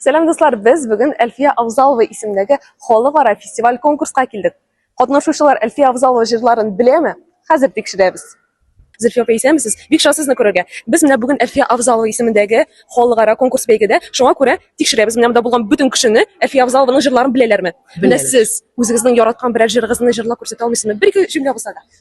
Сәлам дуслар, без бүген Әлфия Авзалова исемендәге халыкара фестиваль-конкурска килдек. Катнашучылар Әлфия Авзалова җырларын беләме? Хәзер тикшерәбез. Зөлфия апа, исәнмесез? Бик шат сезне күрергә. Без менә бүген Әлфия Авзалова исемендәге халыкара конкурс бәйгедә, шуңа күрә тикшерәбез, менә монда булган бөтен кешене Әлфия Авзалованың җырларын беләләрме? Менә сез үзегезнең яраткан берәр җырыгызны җырлап күрсәтә алмыйсызмы? Бер-ике җөмлә булса да.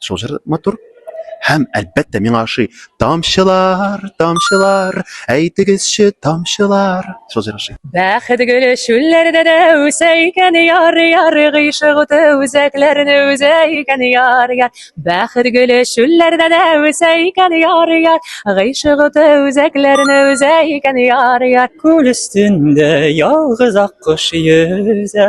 Шул җыр матур. Һәм, әлбәттә, миңа ошый. Тамчылар, тамчылар, әйтегезче, тамчылар. Шул җыр ошый. Бәхет гөле чүлләрдә дә үсә икән яр, яр, гыйшык уты үзәкләрне үзә икән яр, яр. Бәхет гөле чүлләрдә дә үсә икән яр, яр, гыйшык уты үзәкләрне үзә икән яр, яр. Күл өстендә ялгыз аккош йөзә.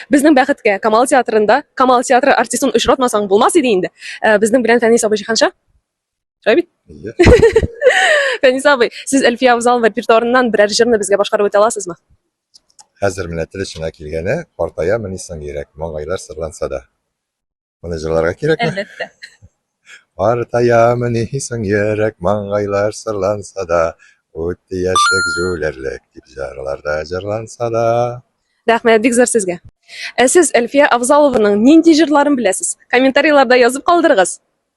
Безнең бәхеткә, Камал театрында Камал театры артистын очратмасаң булмас иде инде. Э, безнең белән Фәнис абый җиһанша. Шулай бит? Фәнис абый, сез Әлфия Авзалова репертуарыннан берәр җырны безгә башкарып үтә аласызмы? Хәзер менә тел очына килгәне, картаямыни соң йөрәк, маңгайлар сырланса да. Моны җырларга кирәкме? Әлбәттә. Артаямын исең йөрәк маңгайлар сырланса да, үтте яшьлек җүләрлек дип җырларда җырланса да. Рәхмәт, бик зур сезгә. Ә сез Әлфия Авзалованың нинди җырларын беләсез? Комментарийларда язып калдырыгыз.